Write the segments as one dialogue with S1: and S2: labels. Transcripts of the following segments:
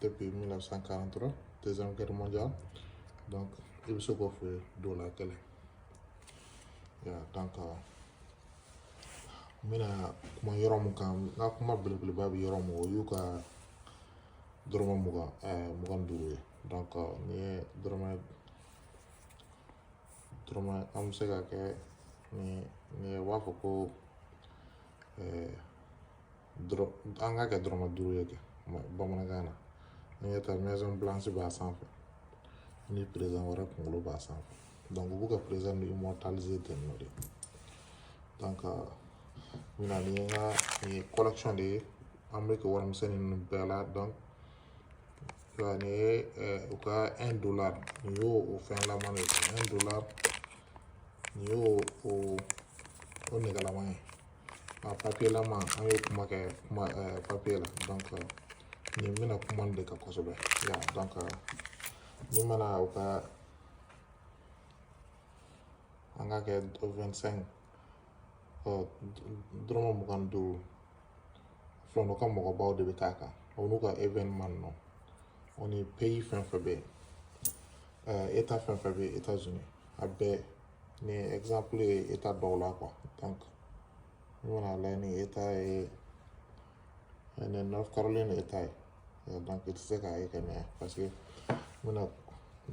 S1: depuis 1943 deuxième guerre mondiale donc i bɛ se k'o feere dollar kelen ya donc euh, n bɛna kuma yɔrɔ mun kan n ka kuma belebeleba bɛ yɔrɔ mun o y'u ka dɔrɔmɛ mugan ɛɛ mugan ni duuru ye donc euh, n'i ye dɔrɔmɛ dɔrɔmɛ an bɛ se k'a kɛ ni ni u b'a fɔ ko ɛɛ. an k'a kɛ dɔrɔmɛ duuru ye kɛ bamanankan na an ɲɛ taa maison blanche b'a sanfɛ ni président wɛrɛ kunkolo b'a sanfɛ donc u b'u ka président nin immortaliser ten nɔ de donc n bɛna nin n ka nin ye collection de ye américain warimisɛnnin ninnu bɛɛ la donc nin ye u ka un dollar nin y'o o fɛnlaman de ye un dollar nin y'o o o nɛgɛlaman ye a papiyelaman an ye kuma kɛ kuma papiye la donc nin n bɛna kuma nin de kan kosɛbɛ ya donc ni mana u ka an k'a kɛ 25 ɔ dɔrɔmɛ mugan ni duuru filanw ka mɔgɔbaw de bɛ k'a kan o n'u ka événement ninnu o ni pays fɛn fɛn bɛ yen eta fɛn fɛn bɛ yen États-Unis a bɛɛ nin exemple ye eta dɔw la quoi donc n bɛna lajɛ nin eta ye nin North Carolina eta ye donc i tɛ se k'a ye ka ɲɛ parce que n bɛna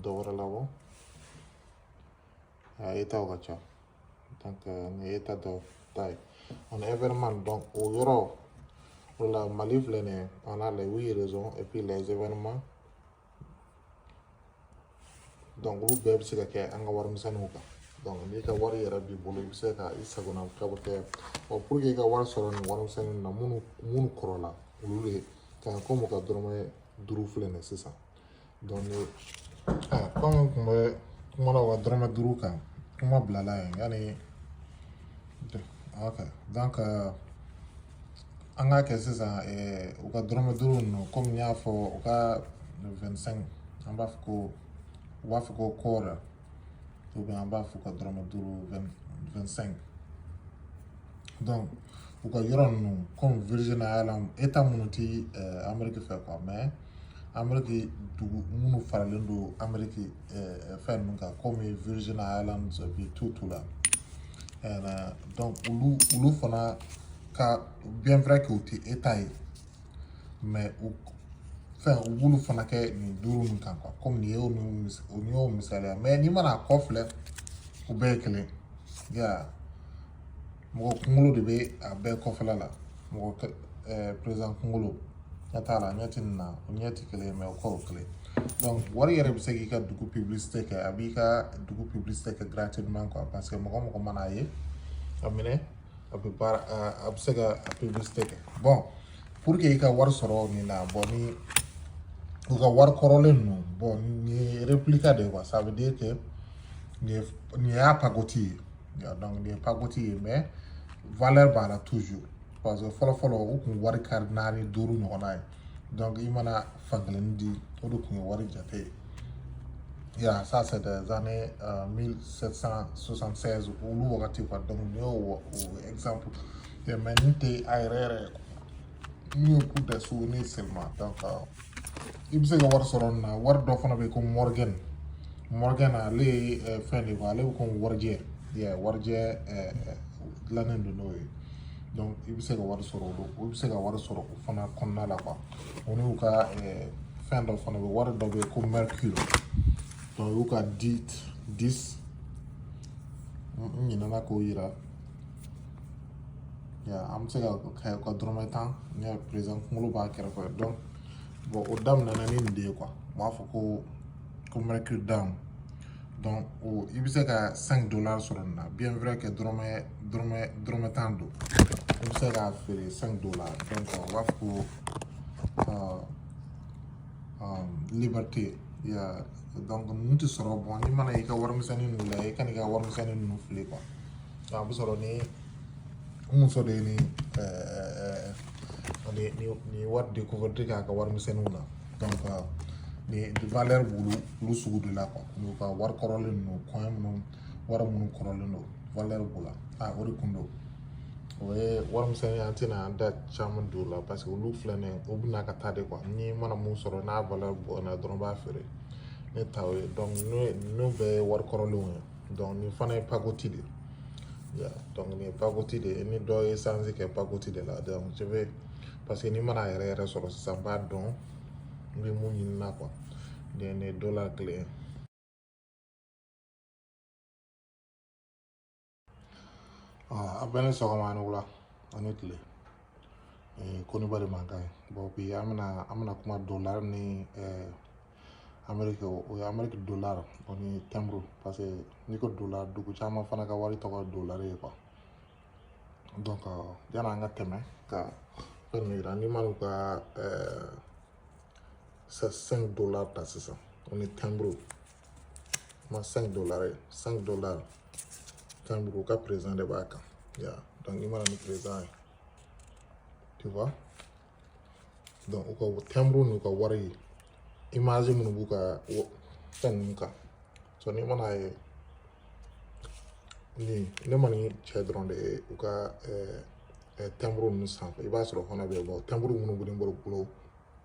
S1: dɔ wɛrɛ labɔ a etaw ka ca donc nin eta dɔ ta ye on a événement donc o yɔrɔ o la Mali filɛ nin ye on a les huit régions et puis les événements donc olu bɛɛ bɛ se ka kɛ an ka warimisɛnninw kan donc n'i ka wari yɛrɛ b'i bolo i bɛ se ka i sagona ka bɔ kɛ ɔ pour que i ka wari sɔrɔ nin warimisɛnnin na minnu minnu kɔrɔla olu de kan kɔmi u ka dɔrɔmɛ duuru filɛ nin sisan donc ni aa kɔmi n tun bɛ kuma la u ka dɔrɔmɛ duuru kan kuma bilala yen yanni ok donc an k'a kɛ sisan u ka dɔrɔmɛ duuru ninnu kɔmi n y'a fɔ u ka 25 an b'a fɔ ko u b'a fɔ ko quarter an b'a fɔ ko dɔrɔmɛ duuru 25 donc u ka yɔrɔ ninnu kɔmi Virgin Islands eta minnu ti ameriki fɛ quoi mais ameriki dugu minnu faralen don ameriki uh, fɛn ninnu kan comme Virgin Islands et puis tout tout là euh, donc olu olu fana ka bien vrai que u tɛ eta ye mais u fɛn u b'olu fana kɛ nin duuru ninnu kan quoi comme nin y'o nin nin y'o misali ye mais n'i mana a kɔ filɛ u bɛɛ ye kelen yeah. mɔgɔ kunkolo de bɛ a bɛɛ kɔfɛla la mɔgɔ président kunkolo ɲɛ t'a la ɲɛ ti nin na o ɲɛ ti kelen mais o kɔ kelen donc wari yɛrɛ bɛ se k'i ka dugu publicité kɛ a b'i ka dugu publicité kɛ gratuitement quoi parce que mɔgɔ mɔgɔ mana ye a minɛ a bɛ baara a bɛ se ka a publicité kɛ bon pour que i ka wari sɔrɔ nin na bon ni u ka wari kɔrɔlen ninnu bon nin ye réplica de ye quoi ça veut dire que nin ye nin y'a pagoti ye donc nin ye pakoti ye mais valeur b'a la toujours parce que fɔlɔ fɔlɔ u kun wari kari naani duuru ɲɔgɔnna ye donc i mana fankelen di o de kun ye wari jate ye ya ça c'est des années euh, 1776 olu wagati quoi donc nin y'o exemple ye mais nin tɛ a yɛrɛ yɛrɛ ye quoi nin y'o coup de souvenir seulement donc euh, i bɛ se ka wari sɔrɔ nin na wari dɔ fana bɛ yen ko morgan morgan ale ye eh, fɛn de ale bɛ komi warijɛ yɛ warijɛ eh, eh, dilannen don n'o ye donc i bɛ se ka wari sɔrɔ olu i bɛ se ka wari sɔrɔ o fana kɔnɔna la quoi o n'u ka fɛn dɔ fana bɛ wari dɔ bɛ yen ko mercure donc u y'u ka dix n ɲinɛna k'o yira Ya an bɛ se ka kɛ ka dɔrɔmɛ tan n y'a président kunkolo b'a kɛrɛfɛ donc bon o daminɛna ni nin de ye quoi u b'a fɔ ko ko mercure dime donc i bɛ se ka cinq dollars sɔrɔ nin na bien vrai que dɔrɔmɛ dɔrɔmɛ dɔrɔmɛ tan don i bɛ se k'a feere cinq dollars donc u b'a fɔ ko liberté ya donc ninnu tɛ sɔrɔ bon n'i mana i ka warimisɛnnin ninnu lajɛ i kan'i ka warimisɛnnin ninnu fili quoi a bɛ sɔrɔ ne muso de ye ni ni ni ni wari découverte k'a ka warimisɛnninw na donc ni valeur b'olu olu sugu de la quoi n'u ka wari kɔrɔlen ninnu coin minnu wari minnu kɔrɔlen don valeur b'o la a o de kun don o ye warimisɛnnin an tɛna an da caman don o la parce que olu filɛ nin ye o bɛna ka taa de quoi ne mana min sɔrɔ n'a valeur bonyana dɔrɔn b'a feere ne ta o ye donc n'o bɛɛ ye wari kɔrɔlenw ye donc nin fana ye pakoti de ye donc nin ye pakoti de ye ni dɔ ye sanzi kɛ pakoti de la donc je vais parce que ne mana a yɛrɛ yɛrɛ sɔrɔ sisan n b'a dɔn n bɛ mun ɲini na quoi nin ye dollar kelen ye a bɛɛ ni sɔgɔma ni wula ani tile ko ni bari mankan ye bon bi an bɛna an bɛna kuma dollar ni ameriki o ye ameriki dollar o ni tɛnburu parce que n'i ko dollar dugu caman fana ka wari tɔgɔ dollar ye quoi donc yani an ka tɛmɛ ka fɛn min yira n'i man'u ka cinq dollars ta sisan o ni tɛnburu ma 5 dollars ye 5 dollars timbre u ka président de b'a kan ya donc i mana ni président ye tu vois donc u ka timbre n'u ka wari ye image minnu b'u ka fɛn ninnu kan so n'i mana ye nin ne ma nin cɛ dɔrɔn de ye u ka timbre ninnu sanfɛ i b'a sɔrɔ fana bɛ yen bon timbre minnu bɛ ne bolo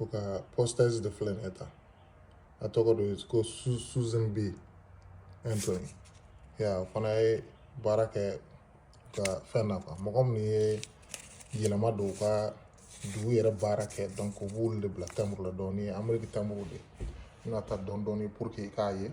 S1: u ka postage de filɛ nin ye tan a tɔgɔ de ye ko Susan B Anthony ya o fana ye baara kɛ ka fɛn na quoi mɔgɔ minnu ye yɛlɛma don u ka dugu yɛrɛ baara kɛ donc u b'olu de bila timbre la donc nin ye ameriki timbre de ye n bɛna taa dɔɔni dɔɔni pour que i k'a ye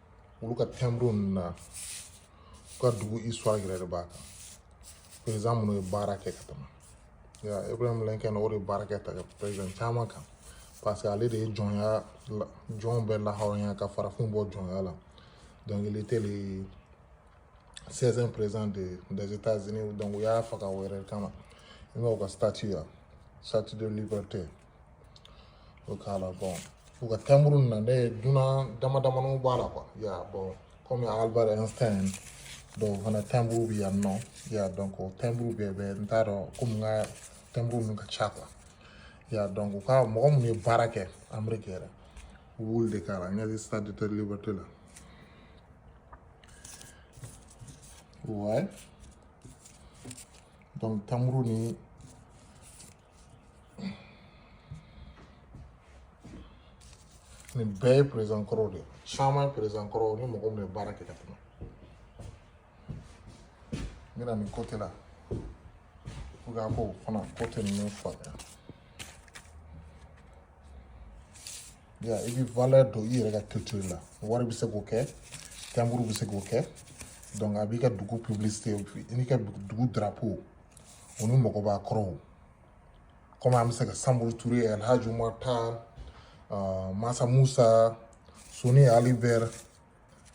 S1: olu ka timbre ninnu na u ka dugu histoire yɛrɛ de b'a kan président minnu ye baara kɛ ka tɛmɛ ya Abraham Lincoln o de ye baara kɛ ta ka président caman kan parce que ale de ye jɔnya jɔnw bɛɛ lahɔrɔnya ka farafinw bɔ jɔnya la donc il était le 16e président de, des États-Unis donc u y'a faga o yɛrɛ kama i ma u ka statue ya statue de liberté O k'a la bon u ka timbre ninnu na ne ye dunan dama damani b'a la quoi ya bon comme Albert Einstein dɔw fana timbre bɛ yan nɔ ya donc o timbre bɛɛ bɛ n t'a dɔn comme n ka timbre ninnu ka ca quoi ya donc u ka mɔgɔ minnu ye baara kɛ ameriki yɛrɛ u b'olu de k'a la nin ye statue de liberté la ouais donc timbre ni nin bɛɛ ye président kɔrɔw de ye caman ye président kɔrɔw ni mɔgɔ minnu ye baara kɛ ka tɛmɛ n bɛna nin côté la pour que a k'o fana côté ninnu faamuya ya i bɛ valeur don i yɛrɛ ka culture la wari bɛ se k'o kɛ timbre bɛ se k'o kɛ donc a b'i ka dugu publicité i n'i ka dugu drapeau u ni mɔgɔba kɔrɔw comme an bɛ se ka Samori Touré El Hadji Umar Tall uh, masa musa soni ali bɛr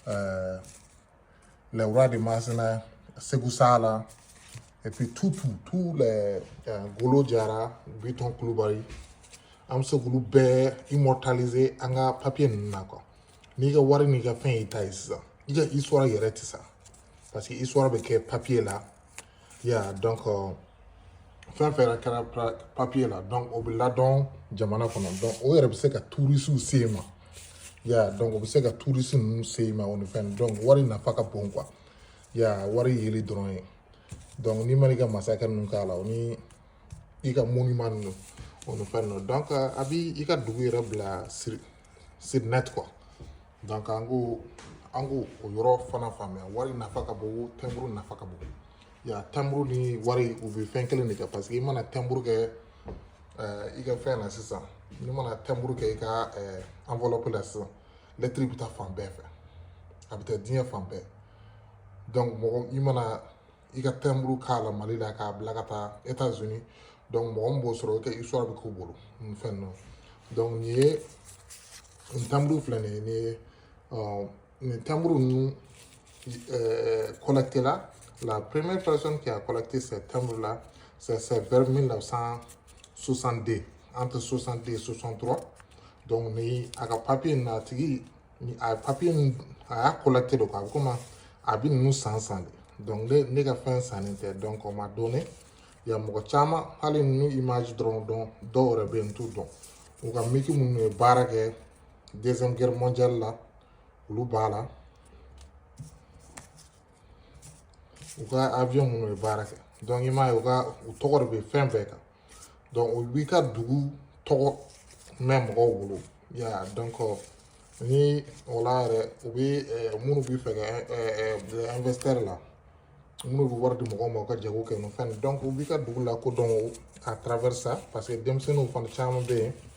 S1: uh, le roi de Masina Sékou Sala et puis tout tout tout les uh, Ngolo Jara biton kulubali an bɛ se k'olu bɛɛ immortaliser an ka papier ninnu na quoi n'i ka wari n'i ka fɛn y'i ta ye sisan i ka histoire yɛrɛ tɛ sa parce que histoire bɛ kɛ papier la ya donc euh, fɛn fɛn yɛrɛ kɛra papiye la donc o bɛ ladɔn jamana kɔnɔ donc o yɛrɛ bɛ se ka turisiw sama ya donc o bɛ se ka turisi ninnu sama o ni fɛn donc wari nafa ka bon quoi ya wari yeli dɔrɔn ye donc n'i mana i ka masakɛ ninnu k'a la o ni i ka monument ninnu o ni fɛn ninnu donc a b'i i ka dugu yɛrɛ bila sur sur net quoi donc an ko an ko o yɔrɔ fana faamuya wari nafa ka bon tɛnburu nafa ka bon ya tɛnburu ni wari u bɛ fɛn kelen de kɛ parce que i mana tɛnburu kɛ i ka fɛn na sisan n'i mana tɛnburu kɛ i ka enveloppe la sisan lɛtiri bɛ taa fan bɛɛ fɛ a bɛ taa diɲɛ fan bɛɛ donc mɔgɔ i mana i ka tɛnburu k'a la mali la k'a bila ka taa états unis donc mɔgɔ min b'o sɔrɔ i ka histoire bɛ k'a bolo nin fɛn ninnu donc nin ye nin tɛnburu filɛ nin ye nin ye nin tɛnburu ninnu collecter là la première personne qui a collecté ces timbres là c'est vers 1962 entre 62 et 63 donc ni a ka papier na a tigi ni a papiye nin a y'a collecter don a bɛ komi a bɛ ninnu san san de ne ne ka fɛn sannen tɛ donc o ma don ne ya mɔgɔ caman hali ninnu image dɔrɔn donc dɔw yɛrɛ bɛ yen n t'u dɔn u ka miki minnu ye baara kɛ deuxième guerre mondiale la olu b'a la u ka avion minnu ye baara kɛ donc i m'a ye u ka u tɔgɔ de bɛ fɛn bɛɛ kan donc o b'i ka dugu tɔgɔ mɛn mɔgɔw bolo ya donc ni o la yɛrɛ u bɛ minnu bɛ fɛn kɛ investisseur là minnu bɛ wari di mɔgɔw ma u ka jago kɛ n'o fɛn donc u b'i ka dugu lakodɔn à travers ça parce que denmisɛnninw fana caman bɛ yen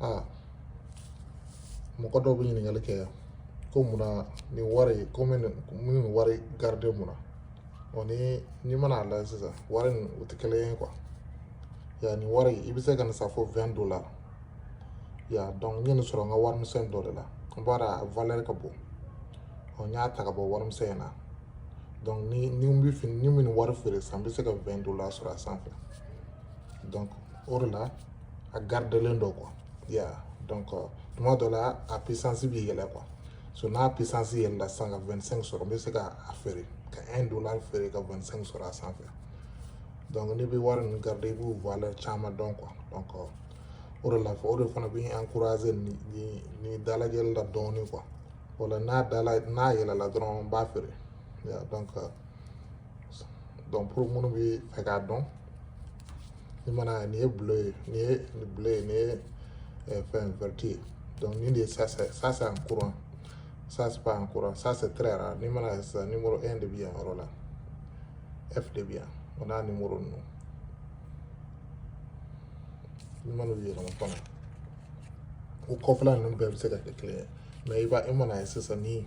S1: aa mɔgɔ dɔw bɛ ɲininkali kɛ ko munna nin wari ko n bɛ nin n bɛ nin wari garder mun na ɔ ni n'i mana a lajɛ sisan wari ninnu tɛ kelen ye quoi ya nin wari i bɛ se ka nin san fo 20 dollars ya donc n ye nin sɔrɔ n ka warimisɛn dɔ de la n b'a dɔn a valeur ka bon ɔ n y'a ta ka bɔ warimisɛn in na donc ni ni n bɛ fini ni n bɛ nin wari feere sisan n bɛ se ka 20 dollars sɔrɔ a sanfɛ donc o de la a gardelen don quoi ya donc tuma dɔ la a puissance bɛ yɛlɛ quoi so n'a puissance yɛlɛla sisan ka 25 sɔrɔ n bɛ se ka a feere ka 1 dollar feere ka 25 sɔrɔ a sanfɛ donc n'i bɛ wari ninnu garder i b'u valeur caman dɔn quoi donc o de la fɔ o de fana bɛ encourager ni ni ni dalajɛli la dɔɔnin quoi o la n'a dala n'a yɛlɛla dɔrɔn n b'a feere ya donc donc pour minnu bi fɛ k'a dɔn n'i mana nin ye bleu ye nin ye nin bleu ye nin ye eh, fɛn vert ye donc nin de ye ça c'est ça c'est en courant ça c'est pas en courant ça c'est très rare n'i mana sisan numéro 1 de bi yan yɔrɔ la F de bi yan o n'a numéro ninnu n'i mana u yɛlɛma fana o kɔfɛla ninnu bɛɛ bɛ se ka kɛ kelen ye mais i b'a i mana ye sisan ni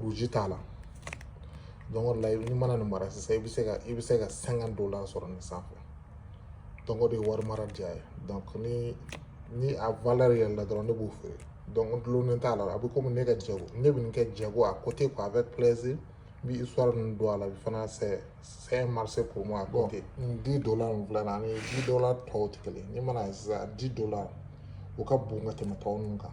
S1: rouge t'a la donc o la i mana nin mara sisan i bɛ se ka i bɛ se ka cinquante dollars sɔrɔ nin sanfɛ donc o de ye wari mara diya ye donc ni ni a valeur yɛlɛla dɔrɔn ne b'o feere donc n dulonnen t'a la a bɛ komi ne ka jago ne bɛ nin kɛ jago à côté quoi avec plaisir n bɛ histoire ninnu dɔn a la fana c'est c'est un marché pour moi à côté dix dollars min filɛ nin ani dix dollars tɔw tɛ kelen ye n'i mana ye sisan dix dollars o ka bon ka tɛmɛ tɔw ninnu kan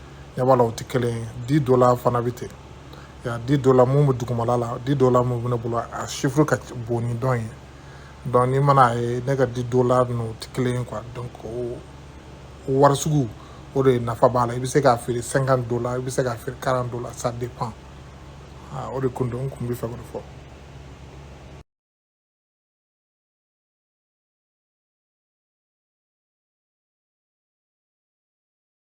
S1: ɲɛ b'a la o tɛ kelen ye dix dollars fana bɛ ten ya dix dollars min bɛ dugumala la dix dollars min bɛ ne bolo a chiffre ka bon ni dɔ in ye donc n'i mana a ye ne ka dix dollars ninnu o tɛ kelen ye quoi donc o wari sugu o de nafa b'a la i bɛ se k'a feere cinquante dollars i bɛ se k'a feere quarante dollars ça dépend o de kun don n kun bɛ fɛ k'o de fɔ.